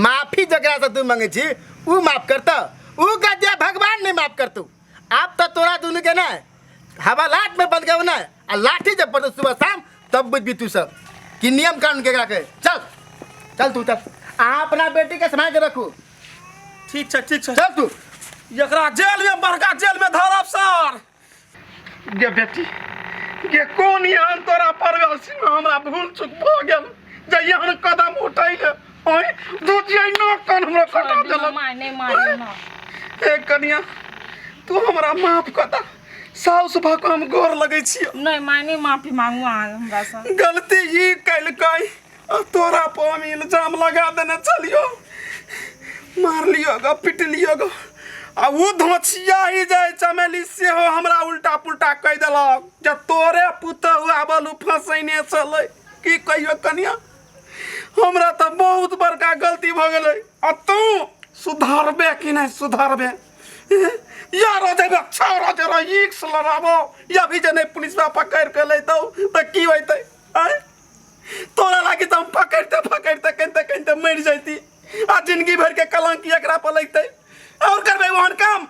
माफी जकरा से तू मांगे छी ऊ माफ करत ऊ गद्या भगवान नहीं माफ करतू आप तो तोरा दुनू के ना हवालात में बंद गए ना आ लाठी जब पड़तो सुबह शाम तब बुझबी तू सब कि नियम कानून केकरा कहे चल चल तू चल अहाँ अपना बेटी के समाज के रखू ठीक छै ठीक छै चल तू एकरा जेल में बड़का जेल में धरब सर गे बेटी गे कोन यान तोरा परवेल सिंह हमरा भूल चुक भ गेल जहिया हम कदम उठैले ओए दू जिया न कन हमरा कटा देलक माय नहीं मार एक कनिया तू हमरा माफ कता साउस भऽ कऽ हम गोर लगै छी नहि माय नहि माफी मांगू अहाँ हमरा सँ गलती ई कैलकै आ तोरा पर हम इल्जाम लगा देने चलियो मारलियो ग पिटलियो ग आ ओ धोछिया ही जाय चमेली सेहो हमरा उल्टा पुल्टा कहि देलक जे तोरे पुतहु आबल ओ फँसैने छलै की कहियो कनिया हमरा तऽ बहुत बड़का गलती भऽ गेलै आ तू सुधारबे कि नहि सुधारबे यार हो जाबे अच्छा हो जाबे एक साल रहबो या भी जने पुलिस में पकड़ के ले दो तो की होते आय तोरा लागे तो हम पकड़ते पकड़ते कहते कहते मर जाती आ जिंदगी भर के कलंक एकरा पर लगते और करबे वहन काम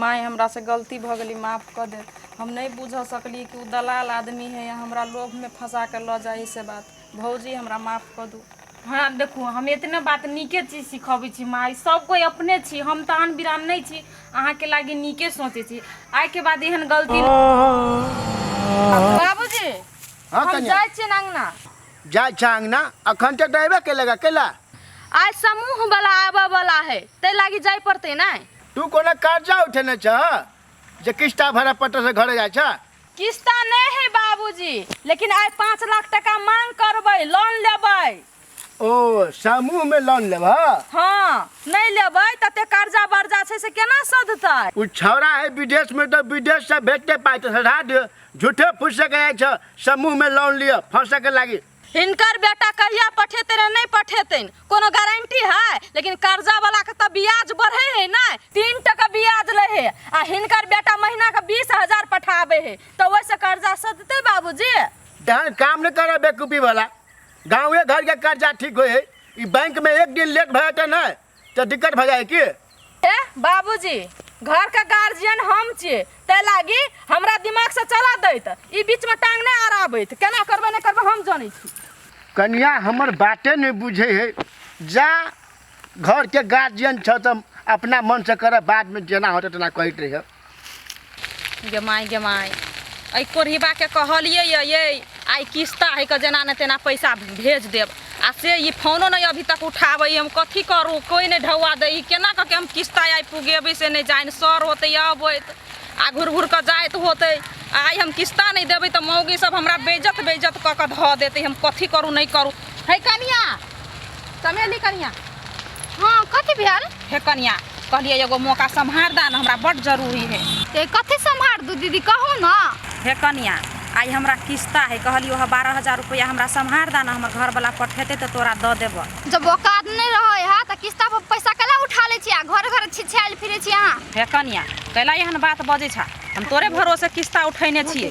माय हमरा से गलती भ गेली माफ कर दे हम नहीं बुझ सकली कि उ दलाल आदमी है या हमरा लोभ में फंसा के ल जाए से बात भौजी हमरा माफ कऽ दू हमरा देखू हम एतने बात नीके चीज सिखबै छी माय सब कोई अपने छी हम तऽ आन बिरान नहि छी अहाँके लागी नीके सोचै छी आइके बाद एहन गलती बाबूजी हाँ हम कन्या जाइ छियै अंगना जाय छा अंगना अखन तक रहबे केलेगा केला आइ समूह वाला आबऽ वाला है तै लागी जाय पड़तै नै तू कोनो कर्जा उठेने छह जे किस्ता भरा पट्टा से घरे जाय छह किस्ता नहीं है बाबूजी लेकिन आइ पाँच लाख टका मांग करबै लोन लेबै ओ समूह में लोन लेब हाँ नहीं लेबै तते कर्जा बर्जा छै से केना सधतै उ छौड़ा है विदेश में तो विदेश से भेजते पाए तो सधा दियो झूठे फूस के जाए छ समूह में लोन लियो फंसे के लागी हिनकर बेटा कहिया पठेतै रे नहि पठेतैन कोनो गारंटी है लेकिन कर्जा वाला के तऽ ब्याज बढ़े है ना तीन टका ब्याज ले है आ हिनकर बेटा महीना के बीस हजार पठाबे है तऽ ओहिसँ कर्जा सधतै बाबूजी तहन काम नहीं करे बेकूफी वाला गाँवे घर के कर्जा ठीक होए ई बैंक में एक दिन लेट भए तऽ नहीं तऽ दिक्कत भऽ जाए की ए बाबूजी घर के गार्जियन हम छियै तै लागी हमरा दिमाग से चला दैत ई बीच में टांग नहि अड़ाबैत केना करबै नहि करबै हम जानै छी कनिया हमर बाते नहि बुझै है जा घरके गार्जियन छ तऽ अपना मनसँ करऽ बादमे जेना होतै तेना कहैत रहिए गे माय गे माय एहि कोढ़िबाके कहलिए ये आइ किस्ता है के जेना ने तेना पैसा भेज देब आ से ई फोनो नहि अभी तक उठाबै हम कथी करू कोइ नहि ढौआ दै केना कऽ के हम किस्ता आइ पुगेबै से नहि जानि सर होतै अबैत आ घुर घुर कऽ जाइत होतै आइ हम किस्ता नहि देबै तऽ मौगी सब हमरा बेइज्जत बेइज्जत कऽ कऽ धऽ देतै हम कथी करू नहि करू है कनिया चमेली कनिया हाँ कथी भेल हे कनिया कहलिए एगो मौका सम्हार दा ना हमरा बड़ जरूरी है ए कथी सम्हार दू दीदी कहू ना हे कनिया आई हमरा किस्ता है कहलियो ह बारह हजार रुपया हमरा सम्हार दा ना हमर घर वाला पठेते तो तोरा द देब जब औकात नहीं रहे है तो किस्ता पर पैसा कला उठा ले छी आ घर घर छिछायल फिरे छी अहाँ हे कनिया कैला एहन बात बजे छा हम तोरे भरोसे किस्ता उठैने छियै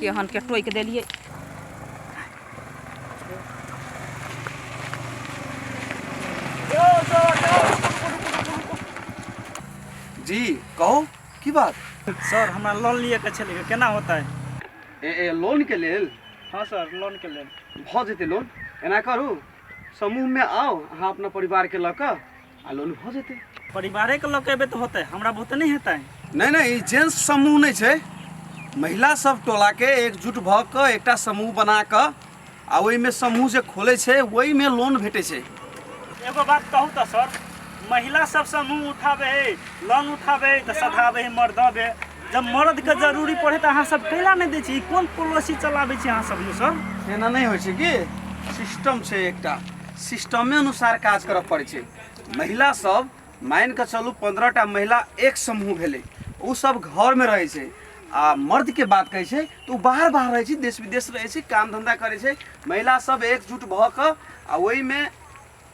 केहन के टोकि देलियै जी कहू की बात सर हमरा लोन लिए के छलै केना होतै ए, ए, लोन के लेल हँ सर लोन के लेल भऽ जेतै लोन एना करू समूहमे आउ अहाँ अपना परिवारके लऽ कऽ आ लोन हो जेतै परिवारे के लोग एबे तो होते हमरा बहुते नहीं हेतै नहीं नहीं ई जेंट्स समूह नहीं छै महिला सब टोला के एकजुट भऽ कऽ एकटा समूह बना कऽ आ ओहिमे समूह जे खोलै छै ओहिमे लोन भेटै छै एगो बात कहू तो सर महिला सब समूह उठाबे है लोन उठाबे है तो सधाबे है मर्द बे जब मर्द के जरूरी पड़े तो अहाँ सब कैला नहीं दै छी ई कोन पॉलिसी चलाबै छी अहाँ सब ने सर एना नहि होइ छै कि सिस्टम छै एकटा सिस्टमे अनुसार काज करऽ पड़ै छै महिला सब मानि कऽ चलू पंद्रह टा महिला एक समूह भेलै ओ सब घरमे रहै छै आ मर्दके बात कहै छै तऽ ओ बाहर बाहर रहै छै देश विदेश रहै छै काम धंधा करै छै महिला सब एकजुट भऽ कऽ आ ओहिमे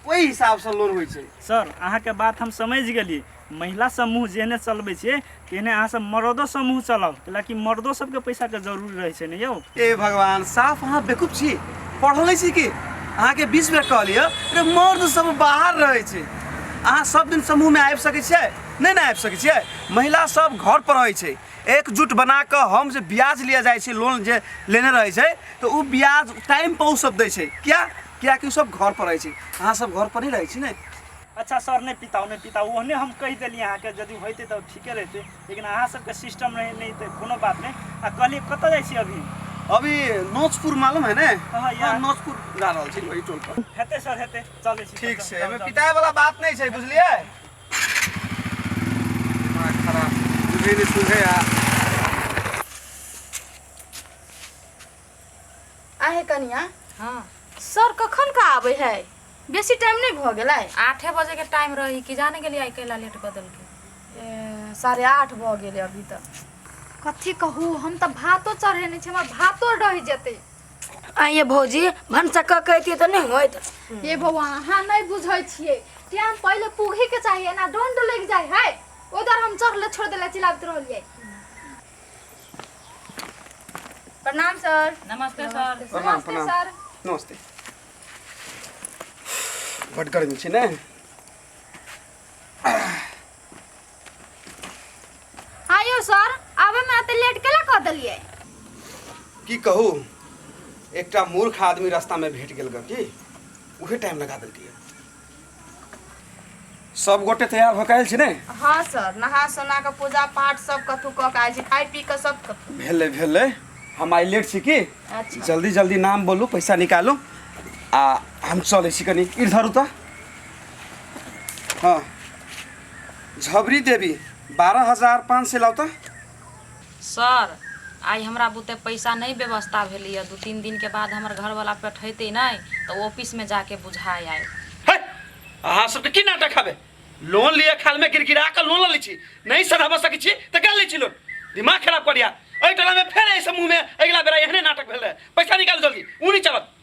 ओहि हिसाबसँ लोन होइ छै सर अहाँके बात हम समझि गेली महिला समूह जेहने चलबै छियै तेहने अहाँ सब मर्दो समूह चलाउ कैलाकि मर्दो सबके पैसा के जरूरी रहै छै ने यौ ए भगवान साफ अहाँ बेकूफ छी पढ़ले छी कि अहाँके बीस बेर कहलियै अरे मर्द सब बाहर रहै छै अहाँ सब दिन समूहमे आबि सकै छियै नहि ने आबि सकै छियै महिला सब घर पर रहै छै एकजुट बना कऽ हम जे ब्याज लिया जाइ छै लोन जे लेने रहै छै तऽ ओ ब्याज टाइम पर ओ सब दै छै किया कियाकि ओ सब घर पर रहै छै अहाँ सब घर पर नहि रहै छी ने अच्छा सर नहि पिताउ नहि पिताउ ओहने हम कहि देलियै अहाँके यदि होइते तऽ ठीके रहिते लेकिन अहाँ सबके सिस्टम रहै नहि तऽ कोनो बात नहि आ कहलियै कतऽ जाइ छी अभी अभी नोचपुर मालूम है ने हाँ, हाँ, यार। हाँ, नोचपुर जा रहल छी वही टोल पर हेतै सर हेतै चलै छी ठीक चल, छै चल, एहिमे चल। पिटाए वाला बात नहि छै बुझलियै दिमाग खराब बुझै नहि सुझै आ आहे कनिया हाँ सर कखन का आवे है बेसी टाइम नहीं भ गेलै आठे बजे के टाइम रही कि जाने गेलियै आइ कैला लेट कऽ देलकै ए, साढ़े आठ भ गेलै अभी तक कथी कहू हम तऽ भातो चढ़ेने छी हमर भातो रहि जेतै आइए भौजी भनसा कऽ के अइतियै तऽ नहि होइत ये भगवान अहाँ नहीं बुझै छियै टाइम पहिले पूघे के चाहिए ना डोंड लग जाय है ओदर हम चढ़ले छोड़ देले चिल्लाबत रहलियै प्रणाम सर नमस्ते सर प्रणाम प्रणाम सर नमस्ते बड गर्मी छै ने आयो सर आबे में एते लेट केला कह देलिए की कहू एकटा मूर्ख आदमी रास्तामे भेट गेल गऽ की उहे टाइम लगा देलकै सब गोटे तैयार होके आयल छी ने हाँ सर नहा सोना के पूजा पाठ सब कथू कऽ के आयल छी खाइ पी के सब कथू भेले भेले हम आइ लेट छी की अच्छा जल्दी जल्दी नाम बोलू पैसा निकालू आ हम चलै छी कनी इधर उतर हाँ झबरी देवी बारह हजार पाँच सय लाउ त सर, आइ हमरा बुते पैसा नहि व्यवस्था भेलैए। दू-तीन दिनके बाद हमर घरवला पठैतै नहि तँ ऑफिसमे जा कऽ बुझा आएत। हे! अहाँ सभ तँ की नाटक हबे? लोन लिअ खालमे गिड़गिड़ा कऽ लोन लऽ लैत छी। नहि सधबऽ सकैत छी तँ कए लैत छी लोन? दिमाग खराब कऽ लिअ। एहि टोलामे फेर एहिसँ मुँहमे अगिला बेरा एहने नाटक भेल रहए। पैसा निकालू जल्दी। ऊनी चलत।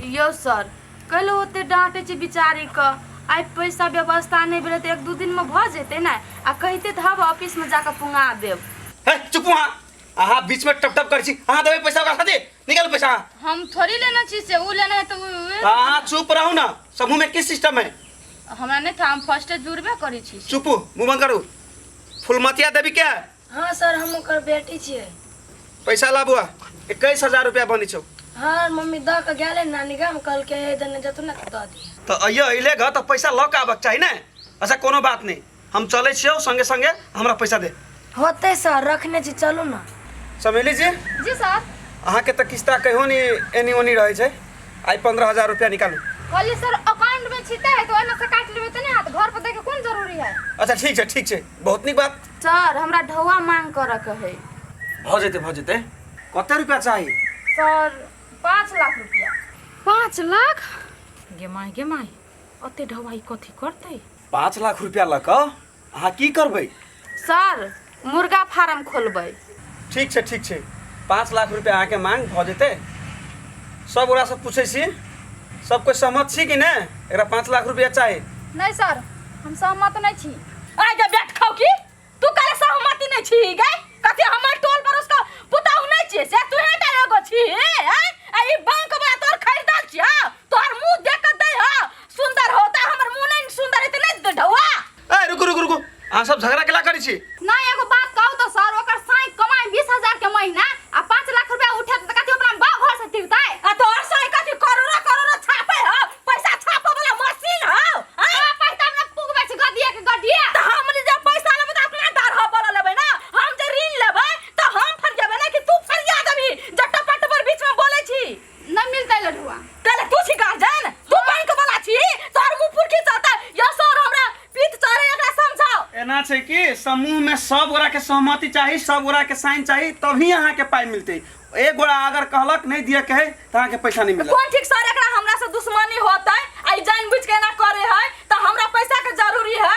यौ सर कैले ओते डाँटे छी विचारी क आइ पैसा व्यवस्था नहीं भेले तो एक दू दिन में भ जेते ना आ कहते तो हम ऑफिस में जाकर पुंगा देव है चुप वहाँ अहाँ बीच में टप टप कर छी अहाँ देवे पैसा ओकरा खातिर निकाल पैसा अहाँ। हम थोड़ी लेना छी से उ लेना है तो उ- अहाँ चुप रहू ना समूह में किस सिस्टम है हमरा नहीं था हम फर्स्ट जुड़बे करी छी चुप मुंह बंद करू फुलमतिया देवी क्या है हाँ सर हम ओकर बेटी छियै पैसा ला बुआ इक्कीस हजार रुपया बनी छौ हाँ मम्मी द के गेले नानी गाम कहलके हे देने जतू ना द दिए तो अइयो अइले घर तो पैसा लऽ के आबक चाही ने अच्छा कोनो बात नहीं हम चले छियौ संगे संगे हमरा पैसा दे होते सर रखने छी चलू ना समेली जी जी सर अहाँके तऽ किस्ता कहियो नि एनी ओनी रहै छै आइ पन्द्रह हजार रुपया निकालू कहलिए सर अकाउंट में छिटा है तो ओना से काट लेबे त ने हाथ घर पर देखे कोन जरूरी है अच्छा ठीक छै ठीक छै बहुत नीक बात सर हमरा ढौआ मांग करऽ के है भऽ जेतै भऽ जेतै कते रुपया चाही सर पाँच लाख रुपया पाँच लाख गे माय गे माय ओते ढवाई कथी करतै पाँच लाख रुपया लऽ कऽ अहाँ की करबै सर मुर्गा फार्म खोलबै ठीक छै ठीक छै पाँच लाख रुपैआ अहाँके माँग भऽ जेतै सब गोरासँ पूछै छी सब कोइ सहमत छी कि नहि एकरा पाँच लाख रुपैआ चाही नहीं सर हम सहमत नहीं छी आइ गे बैठ खाऊ की तू काहे सहमति नहीं छी गे कथी हमर टोल पर उसका पुताऊ नहीं छी से तू हे टा एगो छी हैं? आ ई बैंक वाला तोर खरीदल छी हाँ? तोहर मुंह देख के दे हो सुंदर होता हमर मुंह नहीं सुंदर इतने ढौआ ए रुकू रुकू रुकू अहाँ सब झगड़ा केला करै छी ना एगो बात कहू तो सर ओकर साई कमाई 20000 के महीना आ 5 लाख रुपया उठे त कथि अपना गांव घर से तिरतै आ तो और सही कथी करोड़ा करोड़ा छापे हो पैसा छापे वाला मशीन हो हां पैसा हमरा पुग बेच गदिया के गदिया त हम जे पैसा लेबे त अपना डर हो बोल लेबे ना हम जे ऋण लेबे त हम फरियाबे ना कि तू फरिया देबी जट्टा पट पर बीच में बोले छी ना मिलता है लडुआ कहले तू छी गार्जियन तू बैंक वाला छी तोर मुंह पुरखी चलता या सर हमरा पीत चढ़े एकरा समझाओ एना छै कि समूह में सब गोरा के सहमति चाही सब गोरा के साइन चाही तभी अहाँ के पाई मिलते एक गोरा अगर कहलक नहीं दिए के है तो अहाँ के पैसा नहीं मिलत कोन ठीक सर एकरा हमरा से दुश्मनी होतै आई जान बुझ के एना करे है त हमरा पैसा के जरूरी है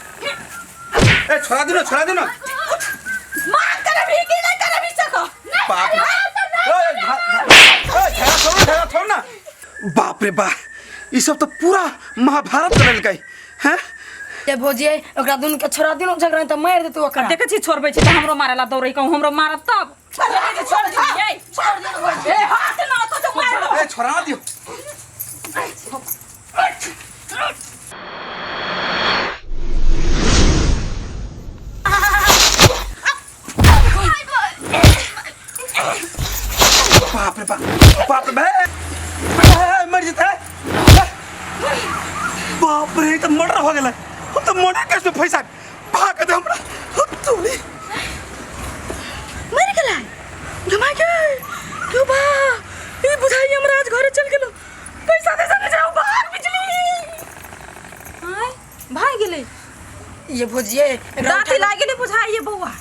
ए छोड़ा दे ना छोड़ा दे ना मार कर अभी के ना कर अभी सको बाप रे। ए, झा- झा- ए, झगड़ा छोड़ ना, झगड़ा छोड़ ना बाप रे बा ई सब तो पूरा महाभारत चल गई हैं ए भौजी ओकरा दुनू के छोड़ा दिनो झगड़ा त मार दे तू ओकरा देखे छी छोड़बै छी त हमरो मारेला दौड़ै कहूँ हमरो मारत तब बाप रे बाप बाप रे मर जेतै बाप रे ई तऽ मर्डर भऽ गेलै हम तऽ मर्डर केसमे फँसा पाक दे हमरा हत्तोली मर गेला घमा के क्यों बा ई बुझाई हमरा आज घरे चल गेलो पैसा दे सके जाओ बाहर बिजली हाय भाग गेले ये भोजिए दाती लाग गेले बुझाई ये बौआ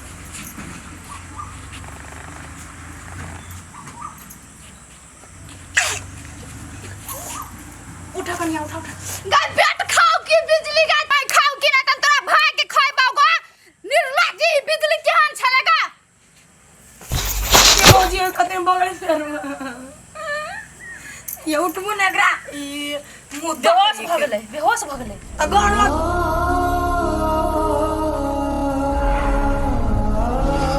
उठा कनिया उठा उठा गाय पेट खाओ की बिजली गाय पाई खाओ की ना तन तोरा भाई के खाए बागो निर्लज्जी ई बिजली केहन छलेगा ये भौजी और कते में बगल से रहो। ये उठबो ना एकरा ई मुंह बेहोश भ गेलै बेहोश भ गेलै अगर मत